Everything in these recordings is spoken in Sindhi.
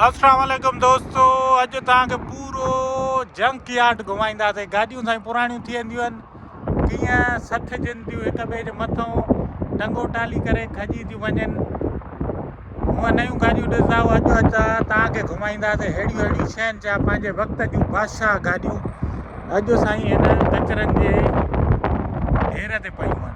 السلام عليڪم دوستو اڄ توهان کي پورو جنڪ يارڊ گهمائينداسين گاڏيون سائين پراڻيون ٿي وينديون آهن ڪيئن سٿجن ٿيون هڪ ٻئي جي مٿان ٽنگو ٽالي ڪري کڄي ٿيون وڃن هونء نيون گاڏيون ڏسندا اڄ اچا توهان کي گهمائينداسين اهڙيون اهڙيون شين جا پنهنجي وقت جون بادشاهه گاڏيون اڄ سائين هن ڪچرن جي ڍير تي پيون آهن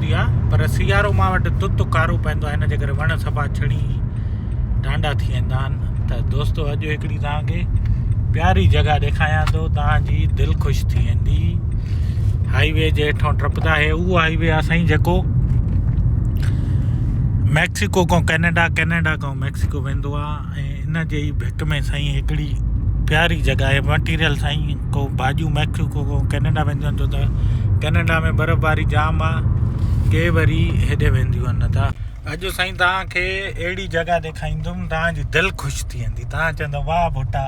هوندي آ پر سيارو مان وٽ تت کارو پوندو آ ان جي ڪري وڻ سڀا ڇڻي ڍانڍا ٿي ويندا آهن ته دوستو اڄ هڪڙي توهان کي پياري جڳهه ڏيکاريان ٿو توهان جي دل خوش ٿي ويندي هاء وي جي هيٺون ٽپدا هي اهو هاء وي آ سائين جيڪو ميڪسيڪو کان ڪينيڊا ڪينيڊا کان ميڪسيڪو ويندو آ ۽ ان جي ئي ڀٽ ۾ سائين هڪڙي پياري جڳهه آهي مٽيريل سائين ڪو ڀاڄيون ميڪسيڪو ڪو ڪينيڊا وينديون آهن ڇو ته ڪينيڊا ۾ برف باري جام آهي ڪي وري هيڏي وينديون آهن نه ته اڄ سائين توهان کي اهڙي جڳهه ڏيکاريندم توهانجي دل خوش ٿي ويندي توهان چوندو واهه ڀٽا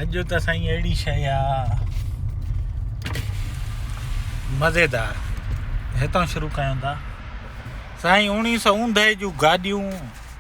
اڄ ته سائين اهڙي شيء آهي مزيدار هتان شروع ڪيون ٿا سائين اوڻيهه سؤ اونڌائي جون گاڏيون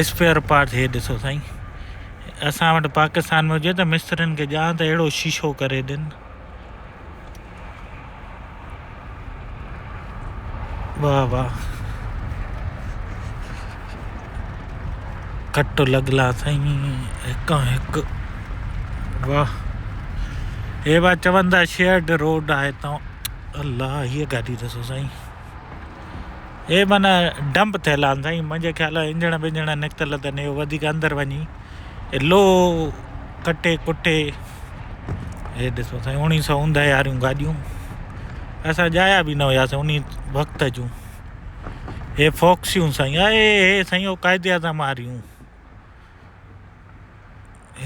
اسپيئر پارٽ هي ڏسو سائين اسان وٽ پاڪستان ۾ هجي ته مسترين کي ڄان ته اهڙو شيشو ڪري ڏين واهه واهه کٽ لڳلا سائين هڪ هڪ واهه هي وا چوندا شيئرڊ روڊ آهي تون الله هيء گاڏي ڏسو سائين اهي من ڊمپ ٿيل آهن سائين منهنجي خيال انجڻ بنجڻ نڪتل اٿن اهو وڌيڪ اندر وڃي لو ڪٽي ڪٽي اهي ڏسو سائين اوڻيهه سو اوندهه واريون گاڏيون اسان ڄايا به نه هياسي ان وقت جون اهي فوڪسيون سائين اهي اهي سائين اهو قائد اعظم واريون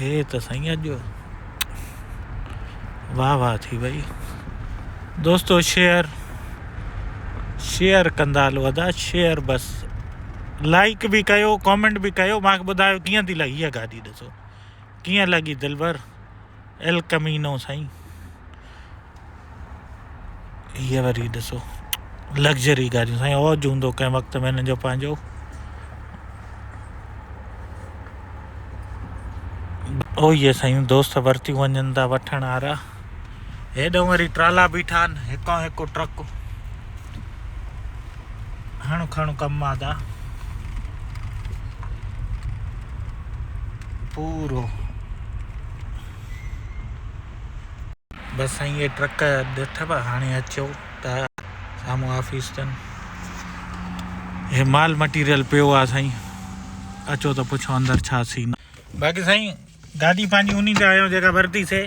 هي ته سائين اڄ واهه واهه ٿي وئي دوستو شيئر شيئر ڪندا هلو ادا شيئر بس لائڪ به ڪيو ڪامينٽ به ڪيو مانکي ٻڌايو ڪيئن ٿي لڳي هيء گاڏي ڏسو ڪيئن لڳي دلبر ايل ڪمينو سائين هي وري ڏسو لگزري گاڏيون سائين اوج هوندو ڪنهن وقت ۾ هنن جو پنهنجو او هي سائين دوست ورتيون وڃن ٿا وٺڻ وارا هيڏو وري ٽرالا بيٺا آهن هڪو هڪو ٽرڪ هڻ کڻ ڪم مادا پورو. بس سائين اهي ٽرڪ ڏٺبا هاڻي اچو ته سامهون آفيس تن هي مال مٽيريل پيو آ سائين اچو ته پڇو اندر ڇا سين باقي سائين گاڏي پنهنجي انهي تي آيو جيڪا ورتي سي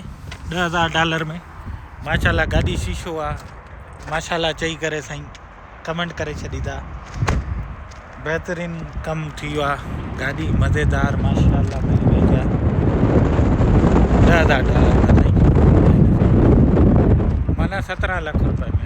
ڏهه هزار ڊالر ۾ ماشاءالله گاڏي شيشو آ ماشاءالله چئي ڪري سائين ڪمينٽ ڪري ڇڏيدا بهترين ڪم ٿي ويو آ گاڏي مزيدار ماشاءالله ملي وئي جا ڏهه هزار ڊالر ۾ سائين معنی سترهن لک روپئي ۾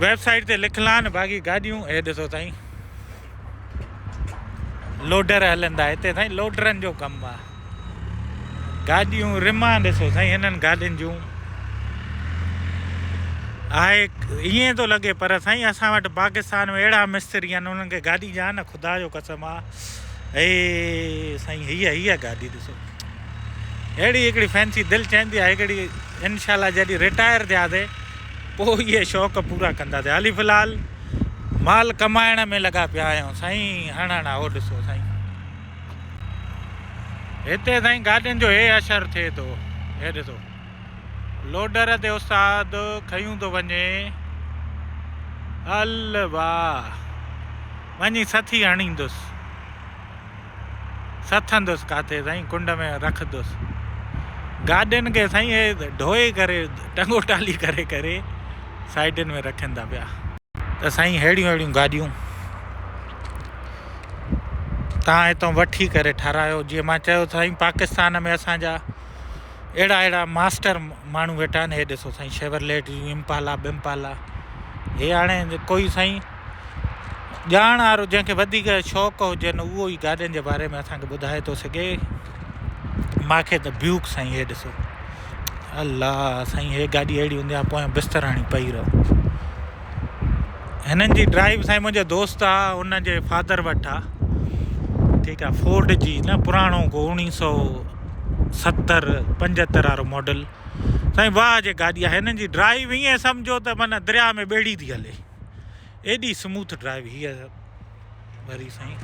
ويب سائيٽ تي لکلان باغي گاڏيون هي ڏسو سائين لوڊر هلن ٿا هتي سائين لوڊرن جو ڪم آهي گاڏيون رمان ڏسو سائين هنن گاڏين جون آهي ائين ٿو لڳي پر سائين اسان وٽ پاڪستان ۾ اهڙا مستري آهن انهن کي گاڏي جا نه خدا جو قسم آ اي سائين هي هي گاڏي ڏسو اهڙي هڪڙي فينسي دل چاهندي آهي هڪڙي انشاء الله جڏهن رٽائر ٿياسي پوء اهي شوق پورا ڪنداسين. حالي في الحال مال ڪمائڻ ۾ لڳا پيا آهيون سائين هڻ هڻ اهو ڏسو سائين هتي سائين گاڏين جو هي اشر ٿئي ٿو هي ڏسو لوڊر تي استاد کيون ٿو وڃي ال واهه وڃي سٿي هڻيندس سٿندس ڪاٿي سائين ڪنڊ ۾ رکندس گاڏين کي سائين هي ڍوئي ڪري ٽنگو ٽالي ڪري ڪري سائيڊن ۾ رکن ٿا پيا ته سائين ههڙيون ههڙيون گاڏيون تان هتو وٺي ڪري ٺارايو جي مان چيو سائين پاڪستان ۾ اسان جا اهڙا اهڙا ماستر ماڻهو ويٺا آهن هي ڏسو سائين شيورليٽ جون امپالا بمپالا هي هاڻي ڪوئي سائين ڄاڻ وارو جنهن کي وڌيڪ شوق هجن اهو ئي گاڏين جي باري ۾ اسان کي ٻڌائي ٿو سگهي ماکي ته بيوڪ سائين هي ڏسو الله سائين هي گاڏي اهڙي هوندي آ پويان بستر هڻي پئي رهو هنن جي ڊرائيو سائين منهنجا دوست آ ان جي فادر وٽ آ ٺيڪ آ فورڊ جي نه پراڻو ڪو انيس سو ستر پنجتر وارو ماڊل سائين واهه جي گاڏي آ هنن جي ڊرائيو ائين سمجهو ته من دريا ۾ ٻيڙي ٿي هلي ايڏي سموٿ ڊرائيو هي وري سائين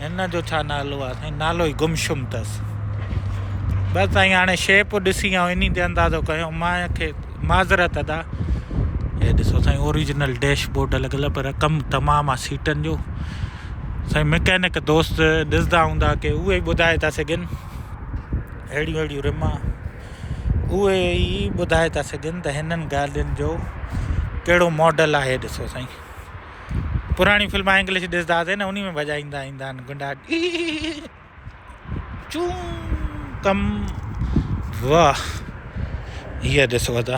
هن جو ڇا نالو آ سائين نالو ئي گمشم تس بس سائين هاڻي شيپ ڏسي آئون انهي تي اندازو ڪيو ما کي معذرت ادا هي ڏسو سائين اوريجنل ڊيش بورڊ لڳل پر ڪم تمام آ سيٽن جو سائين ميڪينڪ دوست ڏسدا هوندا ڪي اهي ٻڌائي ٿا سگهن اهڙيون اهڙيون رما اهي ئي ٻڌائي ٿا سگهن ته هنن گاڏين جو ڪهڙو ماڊل آهي ڏسو سائين پراڻي فلما انگلش ڏسنداسين نه انهي ۾ بجائيندا ايندا آهن گنڊا چون ڪم واهه هي ڏسو ادا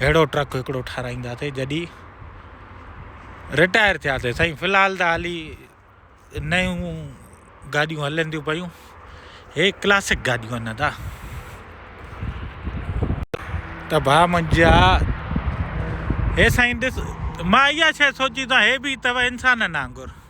اهڙو ٽرڪ هڪڙو ٺاراهينداسين جڏهن رٽائر ٿياسين سائين في الحال ته هالي نيون گاڏيون هلن ٿيون پيون هي ڪلاسڪ گاڏيون هن ٿا ته ڀا منجا هي سائين ڏس مان اها شي سوچي ته هي به ته انسانن وانگر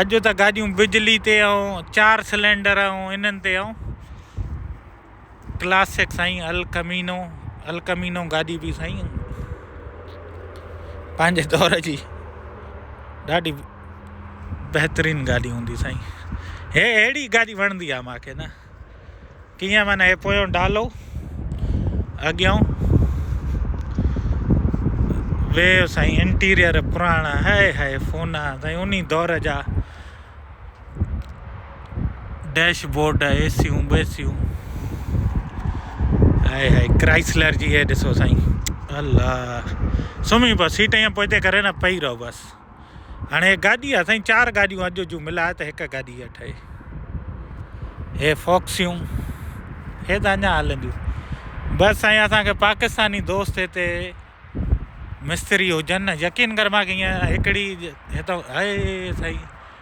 اڄ ته گاڏيون بجلي تي ۽ چار سلينڊر ۽ انهن تي ۽ ڪلاسڪ سائين الڪمينو الڪمينو گاڏي به سائين پنهنجي دور جي ڏاڍي بهترين گاڏي هوندي سائين هي اهڙي گاڏي وڻندي آهي ماکي نه ڪيئن معنيٰ هي پويون ڊالو اڳيون ويو سائين انٽيريئر پراڻا هائي هائي فونا سائين انهي دور جا dashboard A seven B seven high high Chrysler جي هي ڏسو سائين الله سمهي پو سيٽ ائين پوئتي ڪري نه پئي رهو بس هاڻي هي گاڏي آ سائين چار گاڏيون اڄ جون ملاء ته هڪ گاڏي آ ٺهي هي فوڪسيون هي ته اڃا هلنديون بس سائين اسان کي پاڪستاني دوست هتي مستري هجن نه يقين ڪر مانکي هيئن هڪڙي هي ته هي سائين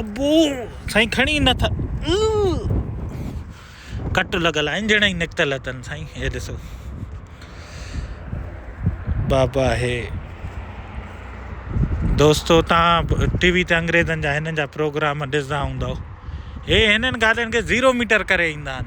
ابو سائين کڻي نه ٿا ڪٽ لڳل آهن جهڙا ئي نڪتل اٿن سائين هي ڏسو بابا هي دوستو تان ٽي وي تي انگريزن جا هنن جا پروگرام ڏسندا هوندا هي هنن ڳالهين کي زيرو ميٽر ڪري ايندا آهن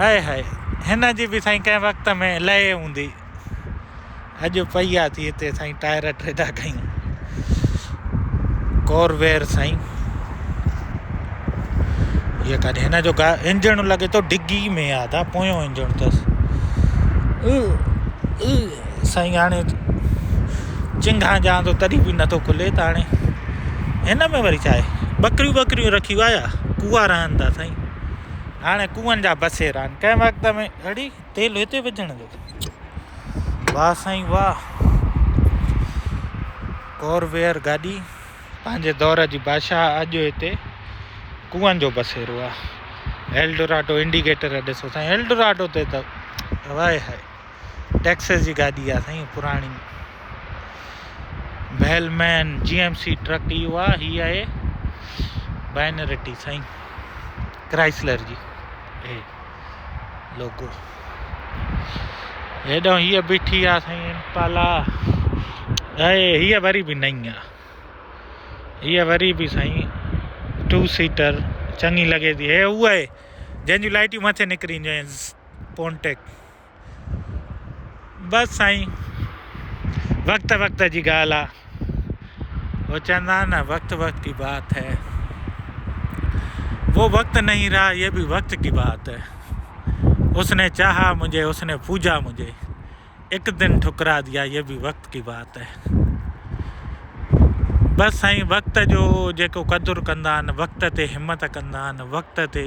هئي هئي هن جي به سائين ڪنهن وقت ۾ لهي هوندي. اڄ پئي آ ٿي هتي سائين ٽائر ٽيڊا ڪيون. ڪوروير سائين هي ڪاڏي هن جو انجڻ لڳي ٿو ڊگي ۾ آدا پويون انجڻ اٿس سائين هاڻي چنگها ڄا ٿو تڏي به نٿو کلي ته هاڻي هن ۾ وري ڇا آهي ٻڪريون ٻڪريون رکيون آيا ڪوئا رهن ٿا سائين هاڻي ڪوئن جا بسيرا آهن ڪنهن وقت ۾ اڙي تيل هتي وجهڻ جو واهه سائين واهه ڪورويئر گاڏي پنهنجي دور جي بادشاهه اڄ هتي ڪوئن جو بسيرو آهي ايلڊوراڊو انڊيڪيٽر ڏسو سائين ايلڊوراڊو تي ته هواء هاء ٽيڪسز جي گاڏي آ سائين پراڻي بيل مين جي ايم سي ٽرڪ اهو آ هي آهي بائنرٽي سائين ڪرائسلر جي هي لوگو هيڏو هي بيٺي آ سائين امپالا اي هي وري به نئي آ هي وري به سائين ٽو سيٽر چڱي لڳي ٿي هي هو آهي جنهن جون لائٽيون مٿي نڪري اينديون آهن پونٽيڪ بس سائين وقت وقت جي ڳالهه آ هو چوندا آهن نه وقت وقت جي بات هي وو وقت نهي رها يه به وقت جي بات هي اس ني چاها مجهي اس ني پوجا مجهي ايڪ دن ٺڪرا ديا يه به وقت جي بات هي بس سائين وقت جو جيڪو قدر ڪندا آهن وقت تي همت ڪندا آهن وقت تي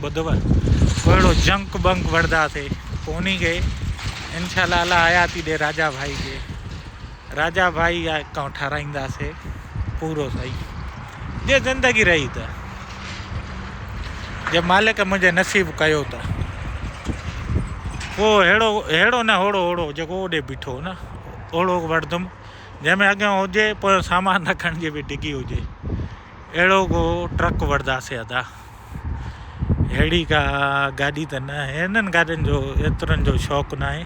ٻڌوء پوء اهڙو جهنڪ ٻهنڪ وڙدا سي پوني گئي ان شاء الله الله حياتي ڏي راجا ڀائي کي راجا ڀائي جا اڪائونٽ ٺاراهيندا سي پورو سائين جي زندگي رهي ته جي مالڪ منهنجي نصيب ڪيو ته پوء هيڙو هيڙو نه هوڙو هوڙو جيڪو اوڏي بيٺو نه اوڙو وڙدم جنهن ۾ اڳيان هجي پويان سامان رکڻ جي به ڊگهي هجي اهڙو ڪو ٽرڪ وڙدا سي ادا اهڙي ڪا گاڏي ته نه آهي. هنن گاڏين جو ايترن جو شوق ناهي.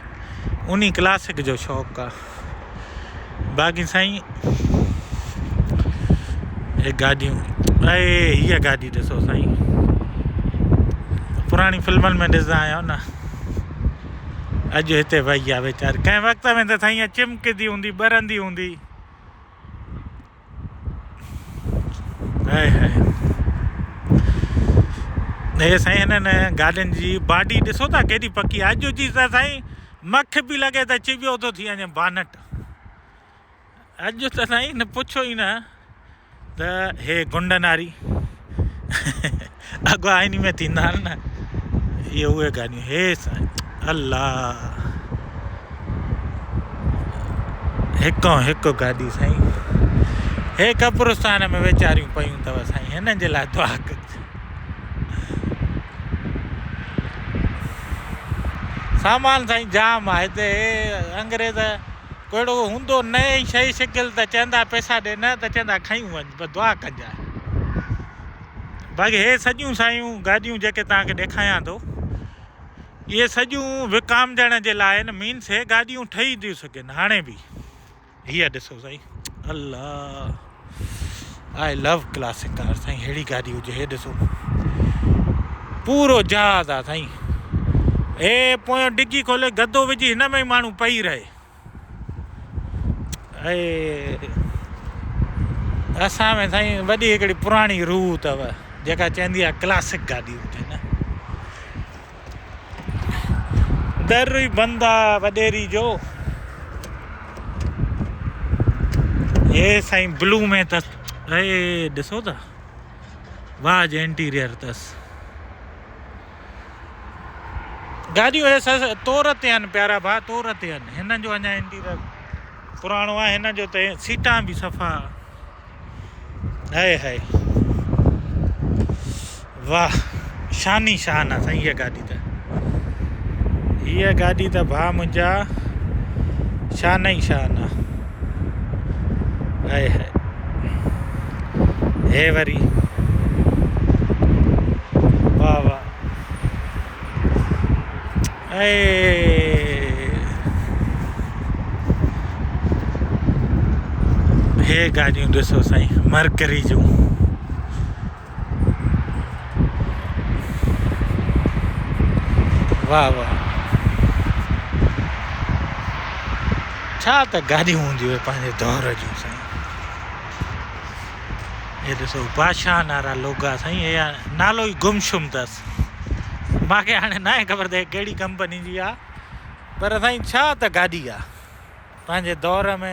انهي ڪلاسڪ جو شوق آ. باقي سائين هي گاڏيون اهي هيء گاڏي ڏسو سائين. پراڻي فلمن ۾ ڏسندا آهيو نه. اڄ هتي وئي آ ويچاري. ڪنهن وقت ۾ ته سائين چمڪندي هوندي ٻرندي هوندي. هائي هائي هي سائين هنن گاڏين جي باڊي ڏسو ٿا ڪيڏي پڪي اڄ جي ته سائين مک به لڳي ته چيٻيو ٿو ٿي وڃي بانٽ اڄ ته سائين نه پڇو ئي نه ته هي گنڊن واري اگهه آئيني ۾ ٿيندا آهن نه اهي اهي گانيون هي سائين الله هڪون هڪ گاڏي سائين هي قبرستان ۾ ويچاريون پيون اٿو سائين هنن جي لاء دعا ڪجي سامان سائين جام آهي هتي انگريز ڪهڙو هوندو نئين شي شڪل ته چوندا پئسا ڏي نه ته چوندا کيون وڃ بس دعا ڪجي باقي هي سڄيون سايون گاڏيون جيڪي توهان کي ڏيکايان ٿو اهي سڄيون وڪامجڻ جي لاء آهن مينس هي گاڏيون ٺهي ٿيون سگهن هاڻي به هي ڏسو سائين الله آء لو ڪلاسڪ ڪار سائين ههڙي گاڏي هجي هي ڏسو پورو جهاز آ سائين اي پويان ڊگي کولي گدو وجهي هن ۾ ماڻهو پئي رهي ۽ اسان ۾ سائين وڏي هڪڙي پراڻي روح اٿو جيڪا چوندي آهي ڪلاسڪ گاڏي هجي نه در ئي بند آ وڏيري جو هي سائين بلو ۾ تس اهي ڏسو ٿا واهه جي انٽيريئر تس گاڏيون هي سس تور تي آهن پيارا ڀاء تور تي آهن هنن جو اڃا انٽيريئر پراڻو آهي هنن جو ته سيٽان به صفا هاي هاي واھ شاني شان آ سائين هي گاڏي ته هي گاڏي ته ڀاء منهنجا شان ئي شان آ هائي هائي هي وري واهه واهه هي گاڏيون ڏسو سائين مرڪري جون واھ واھ ڇا ته گاڏيون هونديون هي پنهنجي دور جون سائين هي ڏسو بادشاهن وارا لوگا سائين هي نالو ئي گم شم اٿس مانکي هاڻي ناهي خبر ته هي ڪهڙي ڪمپني جي آ پر سائين ڇا ته گاڏي آ پنهنجي دور ۾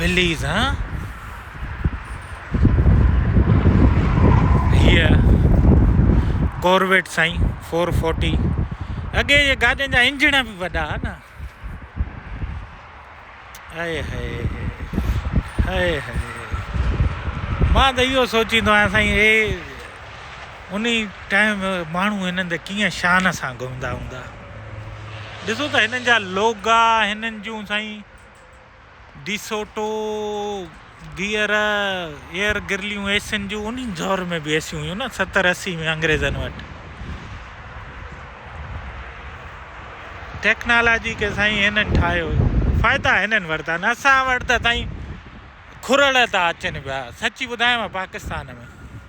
وليز ها هيء ڪورويٽ سائين فور فورٽي اڳي جي گاڏين جا انجڻ به وڏا ها نه هائي هائي هائي هائي مان ته اهو سوچيندو آهيان سائين هي ان ٽائم ماڻهو هنن تي ڪيئن شان سان گهمندا هوندا ڏسو ته هنن جا لوگا هنن جون سائين ڊي سوٽو، گيئر، ايئر گرليون اي سين جون ان دور ۾ به اي سيون هيون نه ستر اسي ۾ انگريزن وٽ ٽيڪنالاجي کي سائين هنن ٺاهيو فائدا هنن ورتا نه اسان وٽ ته سائين کورڙ ٿا اچن پيا سچي ٻڌايان پاڪستان ۾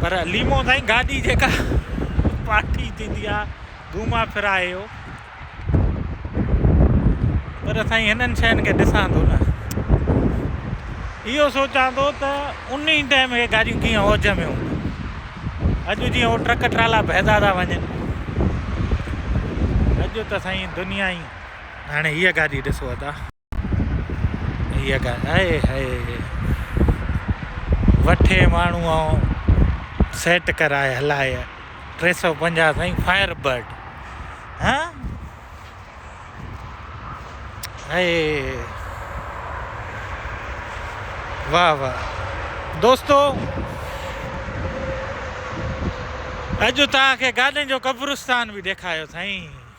پر ليمو سائين گاڏي جيڪا پاٽي ٿيندي آ گهما ڦرا اهو پر سائين هنن شين کي ڏسان ٿو نه اهو سوچان ٿو ته ان ئي ٽائم اهي گاڏيون ڪيئن اوج ۾ هونديون اڄ جيئن هو ٽرڪ ٽرالا بهدا ٿا وڃن اڄ ته سائين دنيا ئي هاڻي هيء گاڏي ڏسو ادا هيء ڳالهه آء هيء وٺي ماڻهوء سيٽ ڪرائي هلائي ٽي سؤ پنجاهه سائين فائر برڊ ها هيء واهه واهه دوستو اڄ توهان کي گاڏين جو قبرستان به ڏيکاريو سائين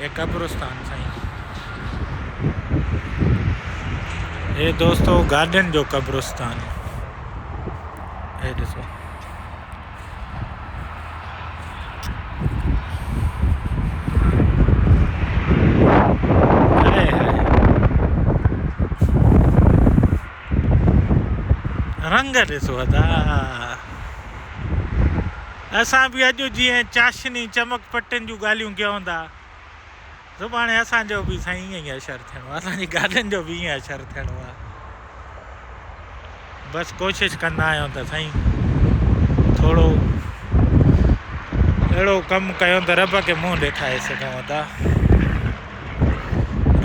هي قبرستان سائين. هي دوستو گاڏين جو قبرستان هي ڏسو رنگ ڏسو ادا اسان به اڄ جيئن چاشني چمڪ پٽين جون ڳالهيون ڪيون ٿا سڀاڻي اسان جو به سائين ائين ئي اشر ٿيڻو آهي اسان جي گاڏين جو به ائين اشر ٿيڻو آهي بس ڪوشش ڪندا آهيون ته سائين ٿورو اهڙو ڪم ڪيون ته رب کي منهن ڏيکاري سگهون ٿا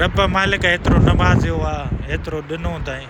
رب مالڪ ايترو نوازيو آهي ايترو ڏنو تائين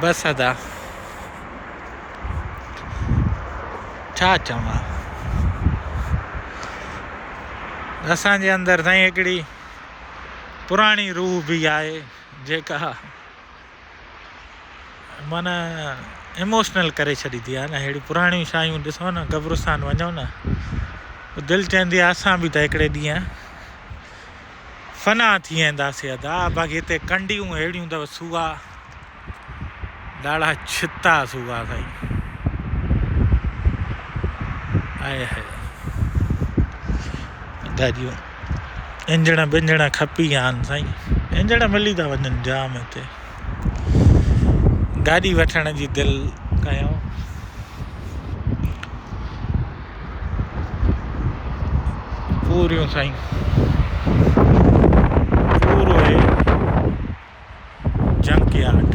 بس ادا ڇا چوان اسان جي اندر سائين هڪڙي پراڻي روح به آهي جيڪا معنيٰ ايموشنل ڪري ڇڏيندي آهي نه اهڙيون پراڻيون شايون ڏسو نه قبرستان وڃو نه دل چوندي آهي اسان به ته هڪڙي ڏينهن فنا ٿي وينداسي ادا باقي هتي ڪنڊيون اهڙيون اٿو سوها ڏاڙها ڇتا سوها سائين آئي هائي گاڏيون انجڻ ٻنجڻ کپي ويا آهن سائين انجڻ ملي ٿا وڃن جام هتي گاڏي وٺڻ جي دل ڪيو پوريون سائين پورو هي جنڪيارڊ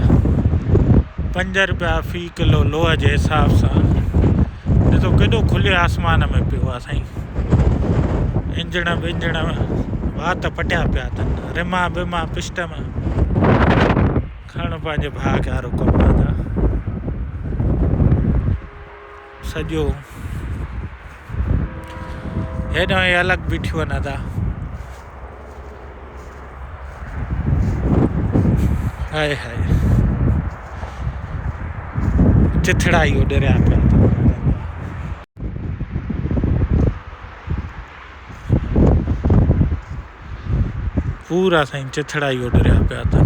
پنج روپيا في ڪلو لوهه جي حساب سان ڏسو ڪيڏو کلي آسمان ۾ پيو آ سائين انجڻ بنجڻ وات پٽيا پيا اٿن رما بما پشٽم کڻ پنهنجي ڀاء کي هارو ڪم سڄو هيڏانهن هي الڳ بيٺيون آهن ادا. هائي هائي چٿڙا ئي اڏريا پيا اٿن هنن جا. پورا سائين چٿڙا ئي اڏريا پيا اٿن.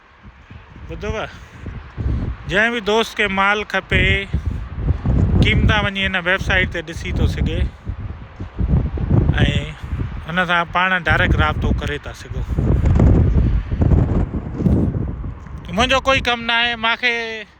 ٻڌوء! جنهن به دوست کي مال کپي، قيمتان وڃي هن ويب سائيٽ تي ڏسي ٿو سگهي ۽ هن سان پاڻ ڊائريڪٽ رابطو ڪري ٿا سگهو. منهنجو ڪوئي ڪم ناهي، مانکي.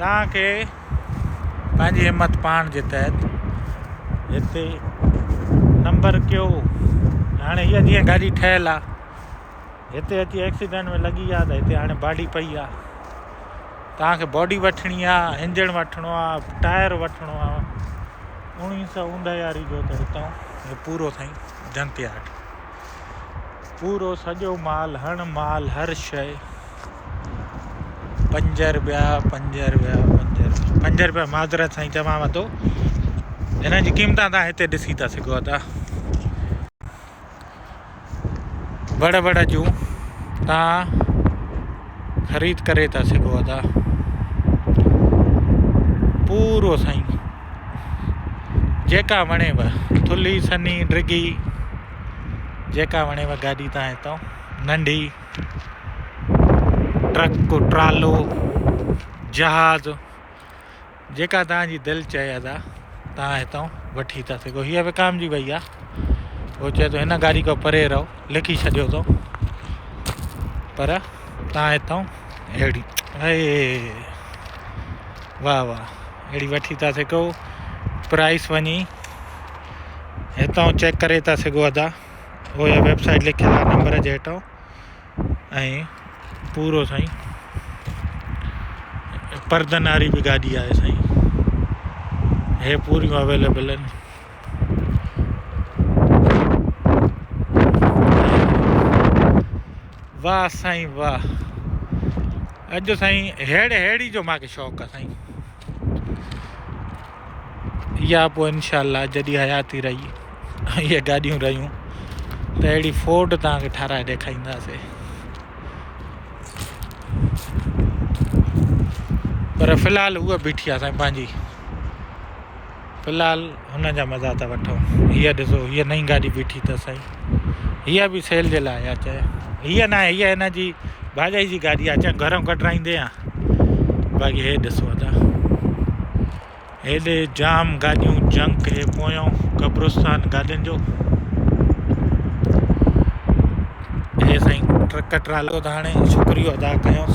توهان کي پنهنجي همت پاڻ جي تحت هتي نمبر ڪيو هاڻي هيء جيئن گاڏي ٺهيل آ هتي اچي ايڪسيڊنٽ ۾ لڳي آ ته هتي هاڻي باڊي پئي آ توهان کي باڊي وٺڻي آ انجڻ وٺڻو آ ٽائر وٺڻو آ انهي سو اوندهياري جو ته هتو هي پورو سائين جنتياٽ پورو سڄو مال هڻ مال هر شئي. پنج رپيا پنج رپيا پنج رپيا پنج رپيا معذرت سائين چوانو ٿو هنن جي قيمت تان هتي ڏسي ٿا سگهو ٿا وڙ وڙ جون تان خريد ڪري ٿا سگهو ٿا پورو سائين جيڪا وڻيو ٿلهي سنهي ڊگهي جيڪا وڻيو گاڏي تان هتان ننڍي ٽرڪ ٽرالو جهاز جيڪا تان جي دل چئي ادا تان هتان وٺي ٿا سگهو هي وڪام جي وئي آ هو چئي تو هن گاڏي کو پري رهو لکي ڇڏيو تو پر تان هتان اهڙي اي واهه واهه اهڙي وٺي ٿا سگهو پرائس وڃي هتان چيڪ ڪري ٿا سگهو ادا او يا ويب سائيٽ لکيل آ نمبر جي هيٺان ۽ پورو سائين پردن واري به گاڏي آهي سائين هي پوريون اويليبل آهن واه سائين واه اڄ سائين هيڙ هيڙي جو ماکي شوق آ سائين يا پو انشاءالله جڏي حياتي رهي هي گاڏيون رهيون ته اهڙي فورڊ تان کي ٺارائي ڏيکائيندا سي پر فلحال هو بيٺي آ سائين پنهنجي في الحال هن جا مزا ته وٺو. هيء ڏسو هيء نئين گاڏي بيٺي اٿس سائين. هيء به سيل جي لاء آهي چانهه. هيء نه آهي هيء هن جي ڀاڄائي جي گاڏي آهي چانهه گهرئون ڪڍرائيندي هان. باقي هي ڏسو ادا هيڏي جام گاڏيون جنڪ هي پويون قبرستان گاڏين جو. هي سائين ٽرڪ ٽرالو ته هاڻي شڪريو ادا ڪيونس.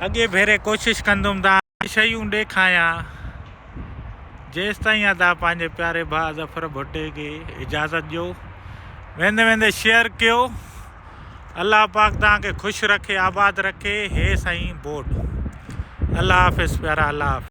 اڳئين ڀيري ڪوشش ڪندم ته اهي شيون ڏيکايان. جيستائين ادا پنهنجي پياري ڀاء ظفر ڀٽي کي اجازت ڏيو. ويندي ويندي شيئر ڪيو. الله پاڪ توهان کي خوش رکي آباد رکي هي سائين بورڊ الله حافظ پيارا الله حافظ.